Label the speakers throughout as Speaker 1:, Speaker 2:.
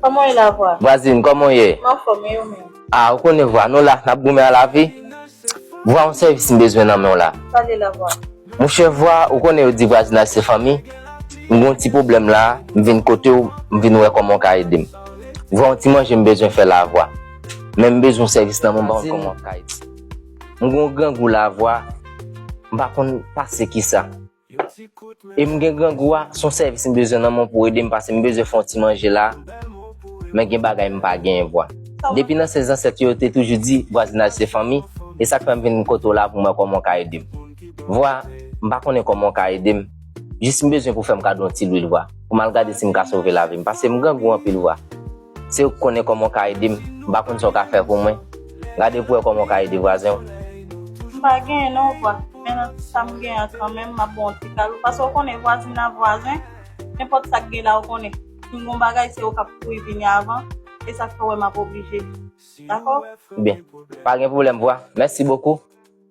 Speaker 1: Koman ye la vwa? Vwazin, koman w ye? M
Speaker 2: anfòm, e ou menm? A, ou konnen vwa nou la, n ap goumen a lavi. Vwa, yon sèvis m bezwen nan men w la. Pale la vwa.
Speaker 1: Monchè vwa,
Speaker 2: ou konnen yo di vwazinaj se fanmi. M gen yon ti pwoblèm la, m vin kote w, m vin wè kòman w ka ede m. Vwa, yon ti manje m bezwen fè la vwa. Men m bezwen yon sèvis nan men w, m pa konn kòman w ka ede m. M gen yon grangou lavwa, m pa konn pase kisa. E m gen grangou a, son sèvis m bezwen nan men w pou ede m pase m bezwen fè yon ti manje la, men gen bagay m pa gen vwa. Depi nan se zansèt yo yo te toujou di vwazinaj se fanmi, e sa k fè m vin kote w la pou m wè kòman w ka ede m. Vwa, M pa konnen kòman w ka ede m, jis m bezwen pou w fè m kado yon ti lwil vwa, pou m al gade si m ka sove lavi m, pase m grangou anpil vwa. Siw k konnen koman w ka ede m, m pa konn sa w ka fè pou mwen, gade pou wè koman w ka ede vwazen w. M pa
Speaker 1: genyen non vwa, men nan ti sa m genyen an kanmenm m ap ba w yon ti kado paske w konnen vwazin nan vwazen, nenpòt sa k gen la w konnen si m gen yon bagay se ou k ap kouri vini avan, e sa k fè w wè m ap oblije. Dakò? Byen,
Speaker 2: pa gen pwoblèm vwa, mèsi bokou.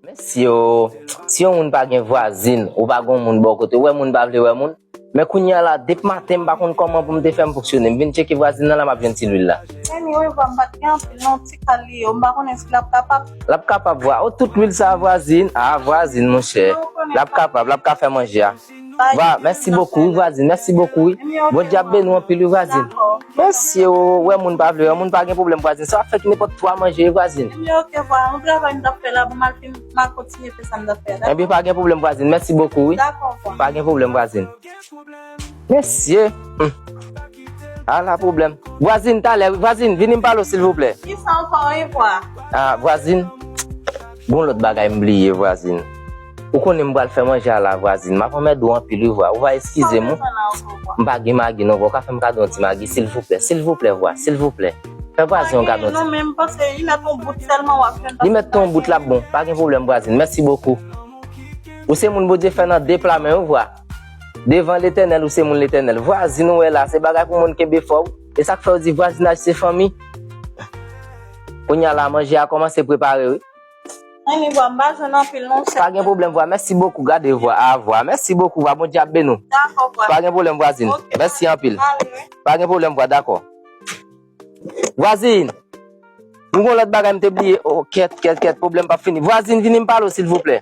Speaker 2: Mèsi oo. Si yon moun pa gen vwazin ou pa gon moun bò kote ou wè moun pa vle wè moun. Men kounya la dep maten m pa konn kòman pou m te fè m fonksyone m vin tcheke vwazin nan la map jwenn ti lwil la. Anyway vwam pat
Speaker 1: gen anpil non ti kal li ye ou m pa konnen si lap kapab. Lap kapab vwa oh tout lwil sa
Speaker 2: vwazin ah vwazin monchè lap kapab lap ka fè manje a. Va merci beaucoup wi vwazin merci beaucoup wi bondye ap beni w anpil wi vwazin mesye w wè moun pa vle wè moun pa gen problème vwazin sa wap fè ki nenpòt twa manje wi vwazin
Speaker 1: ebyen pa gen problème vwazin
Speaker 2: merci beaucoup wi pa gen
Speaker 1: problème vwazin
Speaker 2: mesye humm ala problème vwazin talè wi vwazin vini m pale w silvouplè
Speaker 1: vwazin
Speaker 2: gon lòt bagay m bliye vwazin. Ou konnen m pral fè manje a la vwazin. M ap anmède ou anpil wi vwa. Ou va eskize m wi. M pa gen magi non vwa. Ou ka fè m kado yon ti magi silvouplè. Silvouplè vwa. Silvouplè. Fè vwazin an kado yon ti.
Speaker 1: Li mèt tou yon bout l
Speaker 2: ap bon. Pa gen pwoblèm vwazin. Mèsi bokou. Ou se moun Bondye fè nan de pla men wi vwa. Devan Letènèl ou se moun Letènèl. Vwazin ou wè la se bagay pou moun kenbe fò wi. E sa k fè yo di vwazinaj se fanmi. Kounya la manje a kòmanse prepare wi. Anyn vwa m pa jwenn anpil non sèm. Pa gen pwoblèm vwa mèsi bokou gade vwa a vwa mèsi bokou vwa bondye ap beni w Dakò vwa pa gen pwoblèm
Speaker 1: vwazin ok
Speaker 2: vwa mèsi anpil mwen ale wi. Pa gen pwoblèm vwa dakò. Vwazin m gon lòt bagay m te bliye o kèt kèt kèt pwoblèm pap fini vwazin vini m pale w silvouplè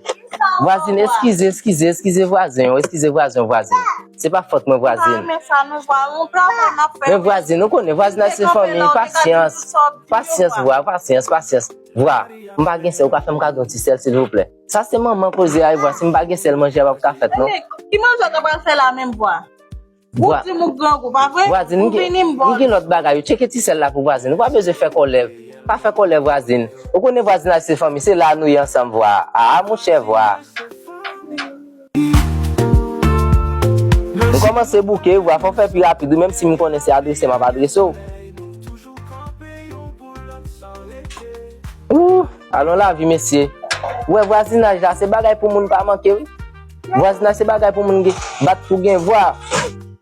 Speaker 2: vwazin eskize eskize eskize vwazen yo eskize vwazen yo vwazin se pa fòt mwen vwazin m pa renmen sa non vwa yon
Speaker 1: travay nap fè men vwazin ou konnen
Speaker 2: vwazinaj se fanmi pasyans pasyans vwa pasyans pasyans. Vwa, M pa gen sèl ou ka fèm kado yon ti sèl silvouplè. Sa se manman koze ay vwa, si m pa gen sèl manje a pap ka fèt non. Ki manje w ta pral
Speaker 1: fè la menm vwa? Ou dim ou grangou pa vre? Vwazin, M gen
Speaker 2: lòt bagay wi, tcheke ti sèl la pou vwazin, ou pa bezwen fè kòlè, pa fè kòlè vwazin, ou konnen vwazinaj se fanmi, se la nou ye ansanm vwa, aa monchè vwa. M kòmanse bouke, vwa fò fè pi rapid wi menm si m konnen se adrese m ap adrese w. Ooh! Alon lavi mesye! Ou wè vwazinaj la se bagay pou moun pa manke wi. Vwazinaj se bagay pou moun gen, bat pou gen vwa.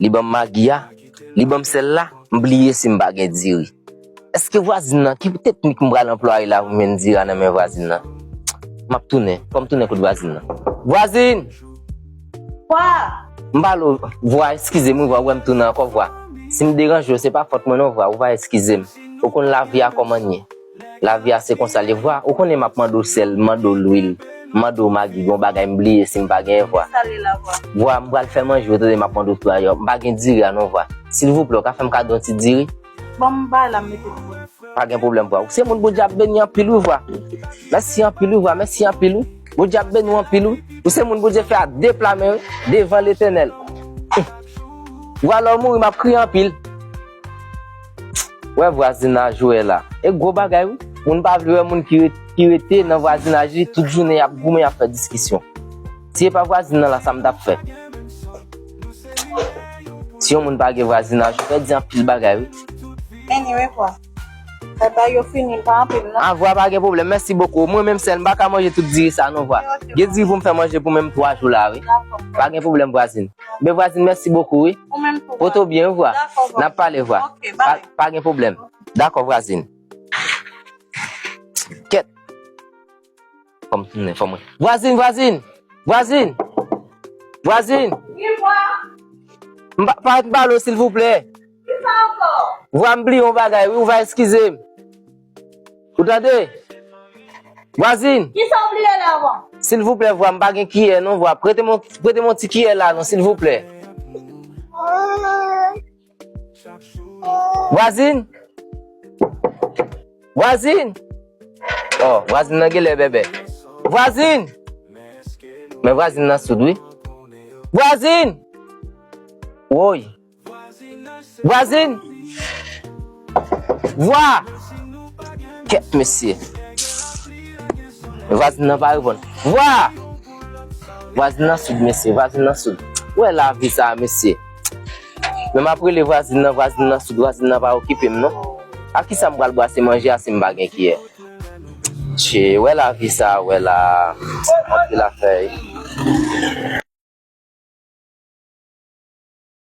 Speaker 2: Li banm magi a, li banm sèl la, m bliye si m pa gen diri. Eske vwazin nan, ki teknik m pral anplwaye la pou m jwenn diri a nan men vwazin nan? M ap tounen, fò m tounen kot vwazin nan. Vwazin!
Speaker 1: Vwa! M pale
Speaker 2: w, vwa, eskize m wi vwa, ou wè m tounen ankò vwa. Si m deranje w, se pa fòt mwen non vwa, ou va eskize m. Ou konn lavi a kòman n ye. Lavi a se konsa li vwa Ou konnen map mande w sèl Mande w lwil Mande w magi Gon bagay m bliye si m pa gen vwa Vwa
Speaker 1: M pral fè manje
Speaker 2: w tande map mande w tou ayò M pa gen diri a non vwa Silvouplè w ka fè m kado yon ti diri Bon m bay la m
Speaker 1: mete pou ou Pa gen pwoblèm
Speaker 2: vwa Ou se moun Bondye ap beni anpil wi vwa Mèsi anpil wi vwa Mèsi anpil wi Bondye ap beni w anpil wi Ou se moun Bondye fè a de pla men wi Devan Letènèl Vwa lè w mouri map kriye anpil. Wè vwazinaj ou wè la. E gwo bagay wi. Moun pa vle wè moun ki rete nan vwazinaj li tout jounen yap goumen yap fè diskisyon. Si e pa vwazin nan la sa m tap fè. Si yon moun pa gen vwazinaj ou pèdi anpil bagay wi. Anyway vwa.
Speaker 1: Batay yo fini pa anpil non. A vwa pa gen pwoblèm mèsi
Speaker 2: bokou. Mwen menm sèl m pa ka manje tout diri sa non vwa. Gen diri pou m fè manje pou menm 3 jou la wi. Pa gen pwoblèm vwazin. Bèl vwazin mèsi bokou wi. Poto w byen
Speaker 1: wi vwa.
Speaker 2: Nap pale vwa. Pa gen pwoblèm. Dakò vwazin. Kèt. Fò m tounen fò mwen. Vwazin vwazin vwazin
Speaker 1: vwazin. Wi vwa. M pa pa pale w
Speaker 2: silvouplè. Kisa ankò?
Speaker 1: Vwa m bliye yon bagay
Speaker 2: wi ou va eskize m. Ou tande! Vwazin! Kisa w bliye
Speaker 1: la vwa? Silvouplè vwa, m pa
Speaker 2: gen kiyè non vwa, prete m yon, prete m yon ti kiyè la non silvouplè. Vwazin! Vwazin! Oh, vwazin nan genlè bèbè. Vwazin! Men vwazin nan soud wi. Vwazin! Woy! Vwazin! Vwa! Kèt mesye! Vwazin nan pa reponn. Vwa! Vwazin nan soud mesye, vwazin nan soud. Ou wè lavi sa a mesye. Lè m ap rele vwazin nan, vwazin nan soud, vwazin nan pa okipe m non. Ak kisa m pral bwase manje a si m pa gen kiyè? Tchee, ou wè lavi sa a ou wè la a. Anpil afè wi.